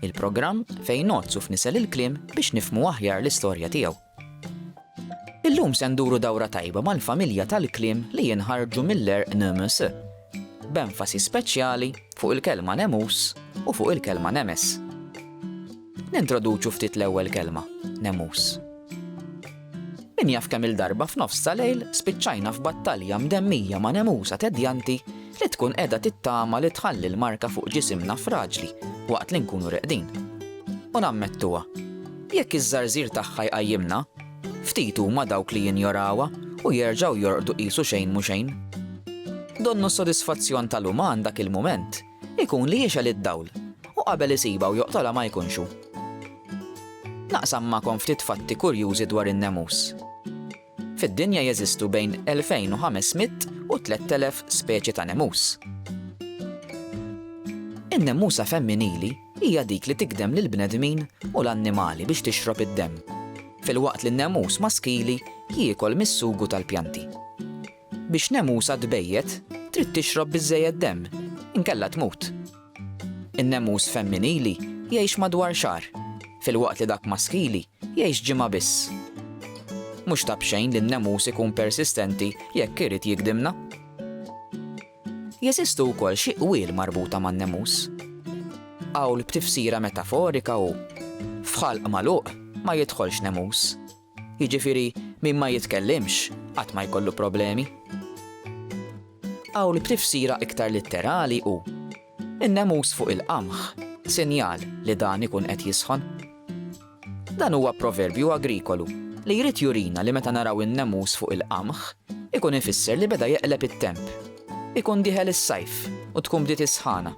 Il-programm fejn ngħodd u fnisel il-kliem biex nifhmu aħjar l-istorja tiegħu. Illum se nduru dawra tajba mal-familja tal-kliem li jinħarġu mill-għerq nemes, b'enfasi speċjali fuq il-kelma nemus u fuq il-kelma nemes. Nintroduċu ftit l-ewwel kelma, nemus. Min jaf kemm-il darba f'nofs ta' lejl spiċċajna f'battalja mdemmija ma' nemusa tedjanti li tkun qiegħda tittama li tħalli l-marka fuq ġisimna fraġli waqt li nkunu reqdin. U nammettuha, jekk iż-żarżir tagħha jqajjimna, ftit huma dawk li jinjorawha u jerġgħu jorqdu qisu xejn mhu xejn. Donnu s-sodisfazzjon tal-uman dak il-mument. Ikun li jixgħel id-dawl, u qabel isibha u joqtolha ma jkunx hu. Naqsam magħkom ftit fatti kurjużi dwar in-nemus. Fid-dinja jeżistu bejn 2,500 u 3,000 speċi ta' nemus. In-nemusa femminili hija dik li tigdem lill-bnedmin u l-annimali biex tixrob id-demm, filwaqt li n-nemus maskili jiekol mis-sugu tal-pjanti. Biex nemusa tbejjet, trid tixrob biżżejjed demm, inkella tmut. In-nemus femminili jgħix madwar xahar, filwaqt li dak maskili jgħix ġimgħa biss. Mhux ta' b'xejn li n-nemus ikun persistenti jekk irid jigdimna. Jeżistu wkoll xi qwiel marbuta man-nemus. Qawl b'tifsira metaforika hu, F'ħalq magħluq ma jidħolx nemus. Jiġifieri min ma jitkellimx qatt ma jkollu problemi. Qawl b'tifsira iktar litterali hu, In-nemus fuq il-qamħ, sinjal li dan ikun qed jisħon. Dan huwa proverbju agrikolu li jrid jurina li meta naraw in-nemus fuq il-qamħ, ikun ifisser li beda jeqleb it-temp. Ikun dieħel is-sajf u tkun bdiet is-sħana.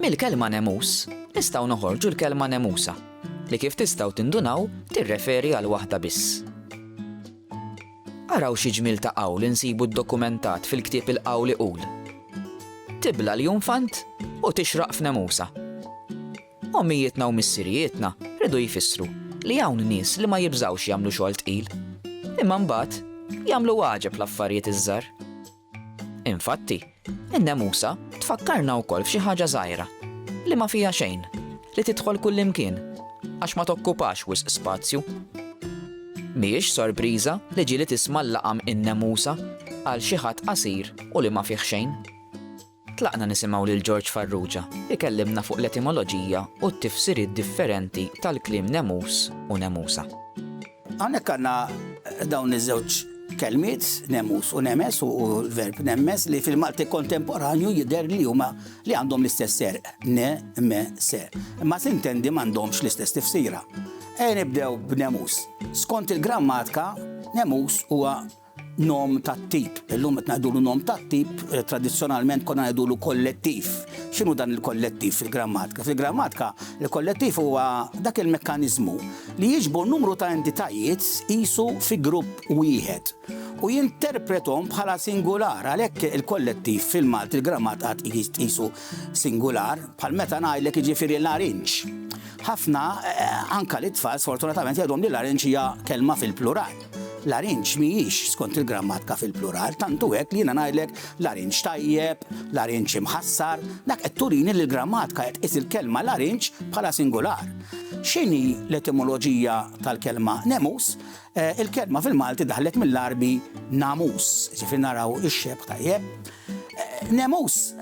Mill-kelma nemus nistgħu noħorġu l-kelma nemusa, li kif tistgħu tindunaw tirreferi għal waħda biss. Araw xi ġmiel ta' qawl insibu ddokumentat fil-ktieb il-qawl iqul, Tibla l-junfant u tixraq f'nemusa. Ommijietna u missirijietna ridu jfissru li hawn nies li ma jibżgħux jagħmlu xogħol tqil, imma mbagħad jagħmlu għaġeb l-affarijiet iż-żgħar. Infatti, in-nemusa tfakkarna wkoll f'xi ħaġa żgħira, li ma fiha xejn, li tidħol kullimkien, għax ma tokkupax wisq spazju. Mhijiex sorpriża li ġieli tisma' l-laqam in-nemusa għal xi ħadd qasir u li ma fih xejn. Tlaqna nisimgħu lil George Farrugia ikellimna fuq l-etimoloġija u t-tifsiriet differenti tal-kliem nemus u nemusa. Hawnhekk għandna dawn iż-żewġ kelmiet, nemus u nemes, u l-verb nemmes li fil-Malti kontemporanju jidher li huma li għandhom l-istess serq, ne, me, se. Imma sintendi m'għandhomx l-istess tifsira. Ejja nibdew b'nemus. Skont il-grammatka, nemus huwa Nom tat-tip. Illum qed ngħidulu nom tat-tip, tradizzjonalment konna ngħidulu kollettiv. X'inhu dan il-kollettiv fil-grammatika? Fil-grammatika, il-kollettiv huwa dak il-mekkaniżmu li jiġbor numru ta' entitajiet qisu fi grupp wieħed u jinterpretom bħala singular. Għalhekk il-kollettiv fil-Malti l-grammatika tqisu singular, bħal meta ngħidlek jiġifieri larinġ. Ħafna, eh, anka l-itfal sfortunatament jgħidhom li larinġ hija kelma fil-plural. Larinġ mhijiex skont il-grammatka fil-plural, tant hu hekk li jiena ngħidlek larinġ tajjeb, larinġ imħassar, dak qed turini li l-grammatka qed tqis il-kelma larinġ bħala singular. X'inhi l-etimoloġija tal-kelma nemus? Eh, il-kelma fil-Malti daħlet mill-Għarbi namus, ġifieri naraw ix-xebh tajjeb. Nemus,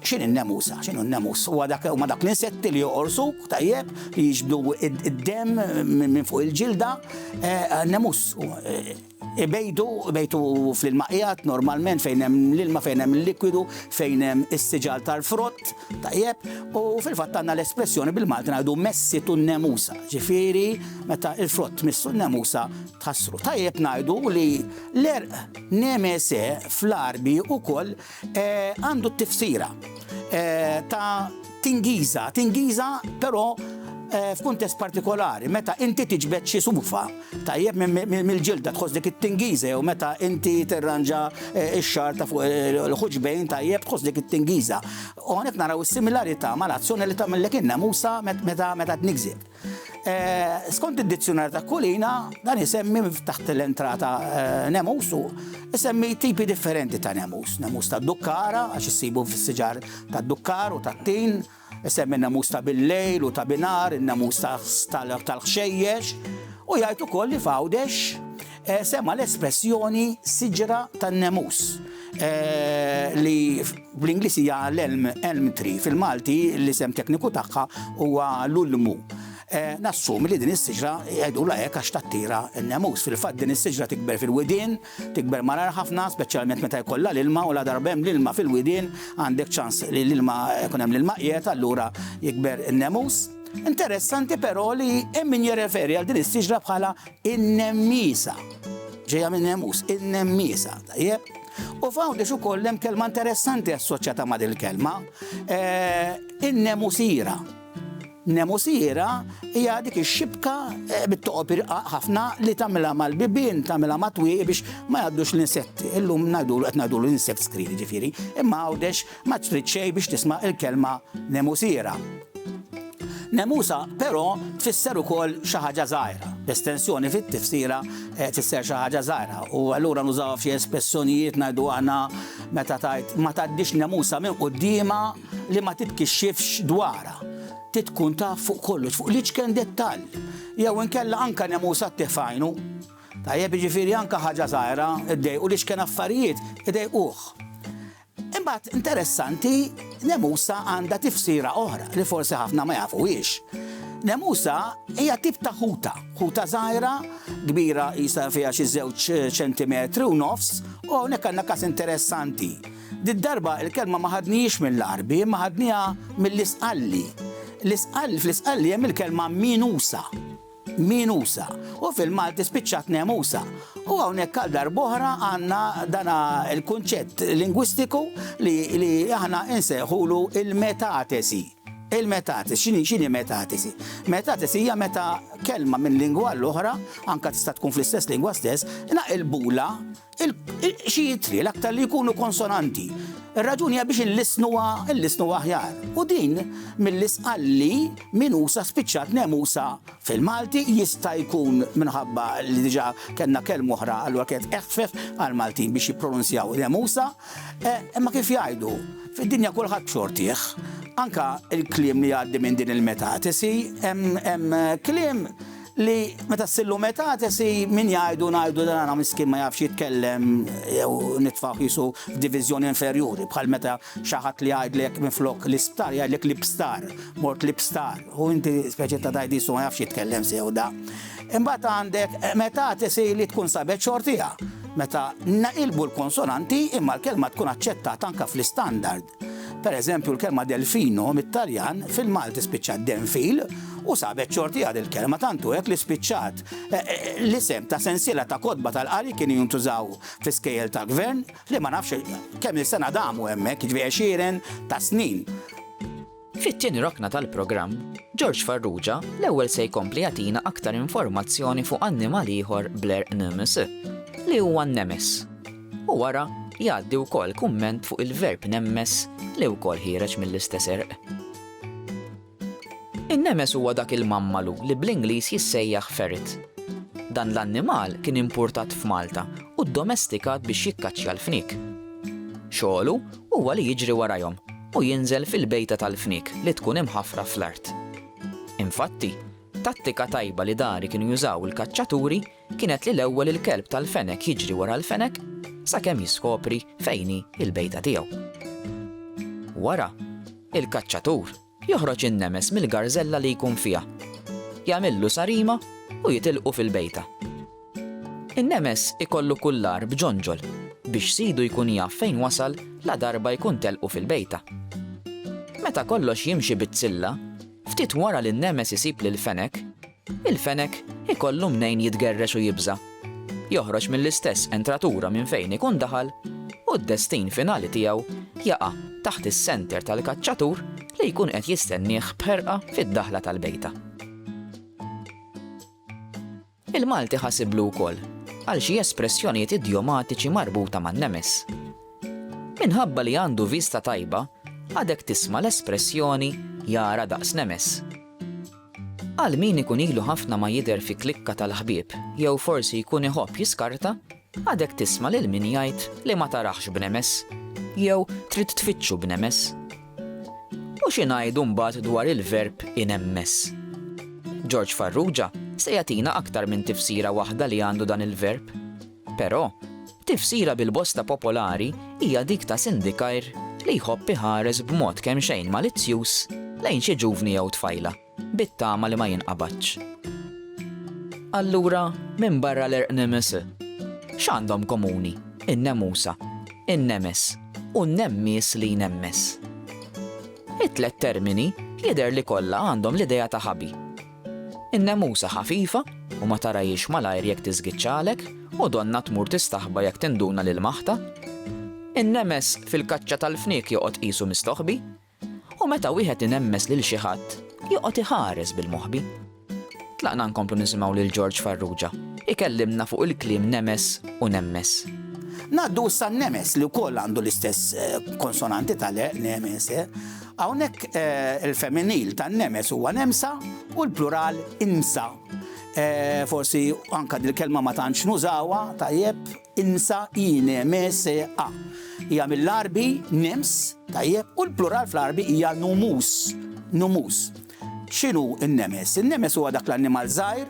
x'inhi n-nemusa? X'inhu n-nemus? Huwa dak huma dak l-insetti li joqorsuk tajjeb, li jiġbdu id-demm minn fuq il-ġilda. Eh, nemus eh, ibejdu, ibejtu fl-ilmaqijat normalment fejn hemm l-ilma, fejn hemm l-likwidu, fejn hemm is-siġal tal-frott, tajjeb, u fil-fatt għandna l-espressjoni bil-Malti ngħidu messi tu nemusa, ġifieri meta il-frott missu n-nemusa tħassru. Tajjeb ngħidu li l-erq Nemese fl-Għarbi ukoll għandu t-tifsira ta' tingiża, tingiża però f'kuntest partikolari, meta inti tiġbed xi sufa, tajjeb, mill-ġilda tħoss dik it-tingiża jew meta inti tirranġa x-xagħar ta' fuq il-ħuġbejn, tajjeb, tħoss dik it-tingiża. U hawnhekk naraw is-similarità mal-azzjoni li tagħmellek in-namusa meta tniggżek. Eh, skont id-dizzjunar ta' kulina, dan isemmi taħt l-entrata eh, nemus u isemmi tipi differenti ta' nemus. Nemus ta' dukkara, għax issibu fis-siġar ta' dukkar u ta' tin, isemmi nemus ta' bil-lejl u ta' binar, nemus tal-ħxejjex, u jgħid ukoll li fawdex sema' l-espressjoni siġra tan-nemus li bl-Ingliż hija l-elm elm tree fil-Malti l-isem tekniku tagħha huwa l-ulmu. Nassumi li din is-siġra jgħidulha hekk għax tattira n-nemus. Fil-fatt din is-siġra tikber fil-widien, tikber malar ħafna, speċjalment meta jkollha l-ilma u la darba hemm l-ilma fil-widien għandek ċans li l-ilma jkun hemm l-ilma qiegħed allura jikber in-nemus. Interessanti però li hemm min jirreferi għal din is-siġra bħala In-nemmiesa. Ġejja minn nemus, in-nemmiesa, tajjeb? U f'hawn biex ukoll hemm kelma interessanti assoċjata ma' dil-kelma, eh, in-nemusira. Nemusira hija dik ix-xibka eh, bit-toqob irqaq ħafna li tagħmilha mal-bibien, tagħmilha ma' twieqi biex ma jgħaddux l-insetti. Illum ngħidu qed ngħidu l-insect screen ġifieri, imma għawdex Ma trid xejn biex tisma' l-kelma nemusiera. Nemusa, però, tfisser ukoll xi ħaġa żgħira. L-estensjoni fit-tifsira eh, tfisser xi ħaġa żgħira u allura nużawha f'xi espressjonijiet ngħidu aħna meta tgħid ma tgħaddix nemusa minn quddiema li ma titkixxifx dwarha. Titkun taf fuq kollox, fuq l-iċken dettall. Jew inkella anka nemusa tifajnu. Tajjeb jiġifieri anka ħaġa żgħira ddejqu li xken affarijiet idejquh. Imbagħad interessanti, nemusa għandha tifsira oħra li forsi ħafna ma jafuhiex. Nemusa hija tip ta' ħuta, ħuta żgħira, kbira jista' fiha xi żewġ ċentimetri u nofs, u hawnhekk għandna każ interessanti. Did-darba l-kelma ma ħadnihiex mill-Għarbi, imma ħadniha mill-Isqalli. L-Isqalli fl-Isqalli hemm il-kelma minusa. Minusa, u fil-Malti spiċċat Nemusa. U hawnhekk għal darb'oħra għandna dana l-kunċett lingwistiku li, li aħna insejħulu il-metatesi. Il-metatesi, x'inhi x'inhi metatesi? Metatesi hija meta kelma minn lingwa l-oħra, anka tista' tkun fl-istess lingwa stess, naqilbula Xi jitri l-aktar li jkunu konsonanti. Ir-raġuni hija biex il-lisn huwa l-lisn huwa aħjar. U din mill-isqalli minusa spiċċat nemusa fil-Malti jista' jkun minħabba li diġà kellna kelm oħra allura kienet eħfef għall-Maltin biex jippronunzjaw nemusa. Eh, imma kif jgħidu, fid-dinja kulħadd xortih, anka il-kliem li għaddi minn din il-metatesi, hemm kliem li meta s-sillu meta tesi min jgħidu ngħidu dan għana miskin ma jafx jitkellem jew nitfaw jisu f'diviżjoni inferjuri bħal meta xi ħadd li jgħidlek minflok l-isptar jgħidlek l-ibstar, mort l-ibstar u inti speċi ta' tajt jisu ma jafx jitkellem sew da. Imbagħad għandek meta tesi li tkun sabet xortija meta naqilbu l-konsonanti imma l-kelma tkun aċċettata anka fl-istandard. Per eżempju, l-kelma delfino mit-Taljan fil-Malti spiċċat denfil u sabet xorti għad il-kelma tantu hekk li spiċċat e, e, l-isem ta' sensiela ta' kodba tal-qari kienu jintużaw fi skejjel ta' gvern li ma nafx kemm il-sena damu hemmhekk ġviexiren ta' snin. Fit-tieni rokna tal-programm, George Farrugia l-ewwel se jkompli jagħtina aktar informazzjoni fuq annimal ieħor bl-għerq nemes, li huwa n-nemes. U wara, jgħaddi wkoll kumment fuq il-verb nemmes li wkoll ħiereġ mill-istess għerq. In-nemes huwa dak il-mammalu li bl-Ingliż jissejjaħ ferret. Dan l-annimal kien impurtat f'Malta u ddomestikat biex jikkaċċja l-fniek. Xogħlu Huwa li jiġri warajhom u jinżel fil-bejta tal-fniek li tkun imħaffra fl-art. Infatti, tattika tajba li dari kienu jużaw il-kaċċaturi kienet li l-ewwel il-kelb tal-fenek jiġri wara l-fenek sakemm jiskopri fejn hi l-bejta tiegħu. Wara, il-kaċċatur Joħroġ in-nemes mill-garżella li jkun fiha, jagħmillu sarima u jitilqu fil-bejta. In-nemes ikollu kullar b'ġonġol biex sidu jkun jaf fejn wasal ladarba jkun telqu fil-bejta. Meta kollox jimxi bit-zilla, ftit wara li n-nemes isib lill-fenek, Il-fenek ikollu mnejn jitgerrex u jibża'. Joħroġ mill-istess entratura minn fejn ikun daħal u d-destin finali tiegħu jaqa' taħt is-senter tal-kaċċatur li jkun qed jistennieh b'ħerqa fid-daħla tal-bejta. Il-Malti ħasiblu wkoll għal xi espressjonijiet idjomatiċi marbuta man-nemes. Minħabba li għandu vista tajba, għadek tisma' l-espressjoni jara daqs nemes. Għal min ikun ilu ħafna ma jidher fi klikka tal-ħbieb jew forsi jkun iħobb jiskarta, għadek tisma' lil min jgħid li ma taraħx b'nemess jew trid tfittxu b'nemess. U xi ngħidu mbagħad dwar il-verb inemmess? George Farrugia se jagħtina aktar minn tifsira waħda li għandu dan il-verb. Però, tifsira bil-bosta popolari hija dik ta' sindikajr li jħobb iħares b'mod kemxejn malizzjuż lejn xi ġuvni jew tfajla, bit-tama li ma jinqabadx. Allura, minbarra l-erqnims, x'għandhom komuni n-nemusa, in-nemes u n-nemmies li jnemmes? It-tliet termini jidher li kollha għandhom l-idea ta' ħabi. In-nemusa ħafifa u ma tarahiex malajr jekk tiżgiċċalek u donnha tmur tistaħba jekk tinduna li lmaħtha. In-nemes fil-kaċċa tal-fniek joqgħod qisu mistoħbi u meta wieħed inemmes lil xi ħadd joqgħod iħares bil-moħbi. Tlaqna nkomplu nisimgħu lil George Farrugia ikellimna fuq il-kliem nemes u nemmes. Ngħaddu issa n-nemes li wkoll għandu l-istess eh, konsonanti tal-e, nemes, eh. Hawnhekk il-femminil ta' nemes huwa nemsa u l-plural insa. Forsi anke dil-kelma ma tantx nużawha tajjeb, insa, inemesea. Hija mill-Għarbi nems, tajjeb, u l-plural fl-Għarbi hija numus, numus. X'inhu n-nemes? In-nemes huwa dak l-annimal żgħir,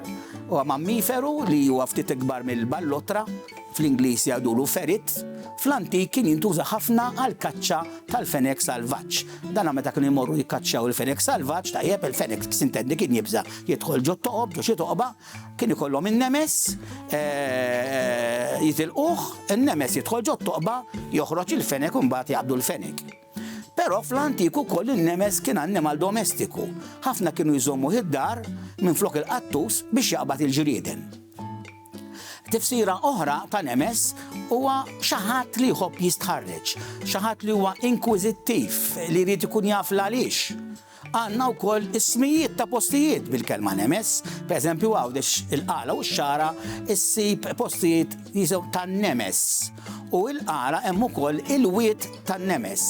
huwa mammiferu li huwa ftit ikbar mill-ballottra, fl-Ingliż jgħidulu ferret, fl-antik kien jintuża ħafna għall-kaċċa tal-fenek salvaġġ. Dan meta kienu jmorru jikkaċċjaw il-fenek salvaġġ, tajjeb, il-fenek sintendi kien jibża' jidħol ġo toqob, ġo xi toqba, kien ikollhom in-nemes, jitilquh, in-nemes jidħol ġo toqba, joħroġ il-fenek u mbagħad jaqbdu l-fenek. Però fl-antik ukoll in-nemes kien annimal domestiku. Ħafna kienu jżommuh id-dar minflok il-qattus biex jaqbad il-ġrieden. Tifsira oħra ta' nemes huwa xi ħadd li jħobb jistħarreġ, xi ħadd li huwa inkwiżittiv, li jrid ikun jaf l-għaliex. Għandna wkoll ismijiet ta' postijiet bil-kelma nemes, pereżempju Għawdex il-Qala u x-Xagħra ssib postijiet jisew tan-nemes u l-Qala hemm ukoll il-wied tan-nemes.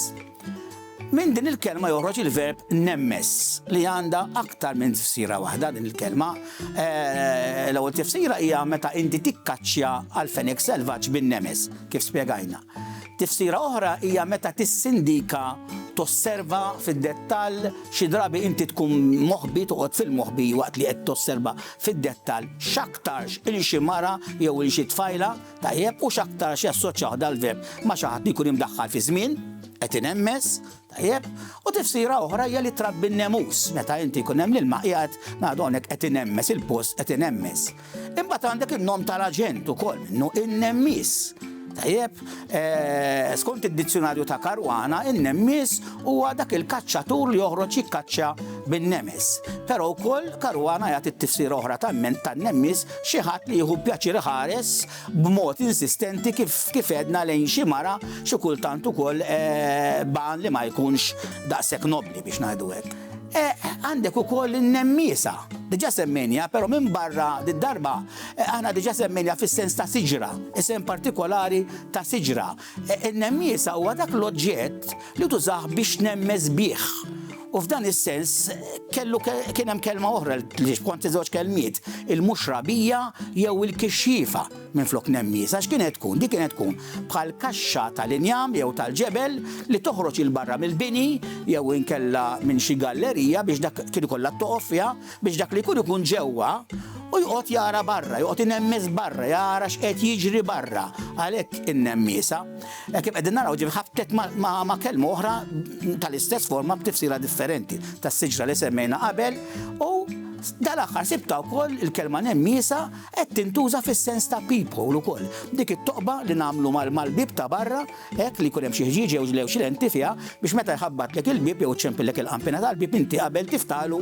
Minn din il-kelma joħroġ il-verb nemmes li għandha aktar minn tifsira waħda din il-kelma. Eh, l-ewwel tifsira hija meta inti tikkaċċja għal fenek selvaġġ bin-nemes, kif spjegajna. Tifsira oħra hija meta tissindika, tosserva fid-dettall, xi drabi inti tkun moħbi, toqgħod fil-moħbi waqt li qed tosserva fid-dettall x'aktarx il xi mara jew il xi tfajla, tajjeb, u x'aktarx jassoċjah dal-verb ma' xi ħadd li jkun imdaħħal fiż-żmien, qed inhemmes, Tajjeb? U tifsira oħra hija li trabbi n-nemus. Meta inti jkun hemm l-ilma qiegħed ngħadu hawnhekk qed inemmes il-post qed inemmes. Imbagħad għandek in-nom tal-aġent ukoll minnu in-nemmis. Tajjeb, eh, skont id-dizzjonarju ta' Karwana, in-nemmis huwa dak il-kaċċatur li joħroġ jikkaċċa bin-nemes. Però wkoll Karwana jagħti t-tifsira oħra ta' ment tan-nemmis xi ħadd li jieħu pjaċir ħares b'mod insistenti kif kif għedna lejn xi mara xi kultant ukoll b'għan li ma jkunx daqshekk nobbli biex ngħidu hekk. Għandek ukoll in-nemmiesa. Diġà semmejniha, però minbarra did-darba aħna diġà semmejniha fis-sens ta' siġra, isem partikolari ta' siġra. Nemmieża huwa dak l-oġġett li tużah biex nemmeż bih. U f'dan is-sens kellu kien hemm kelma oħra li kont żewġ kelmiet, il-mhux rabija jew il-kixxiefa minflok nemmiż, għax kienet tkun, dik kienet tkun bħal kaxxa tal-injam jew tal-ġebel li toħroġ il barra mill-bini jew inkella minn xi gallerija biex dak kien ikollha toqof fiha biex dak li jkun ikun ġewwa u jqgħod jara barra, jqgħod inemmis barra, jara x'qed jiġri barra. Għalhekk in-nemmisa, hekk kif qegħdin naraw ġifi ħabtet ma' kelma oħra tal-istess forma b'tifsira differenti tas-siġra li semmejna qabel u dal-aħħar sibta wkoll il-kelma nemmisa qed tintuża fis-sens ta' people ukoll. Dik it-toqba li nagħmlu mal-bib ta' barra hekk li jkun hemm xi ħġieġ jew xi lenti fiha biex meta jħabbatlek il-bib jew ċempillek il-qampina tal-bib inti qabel tiftalu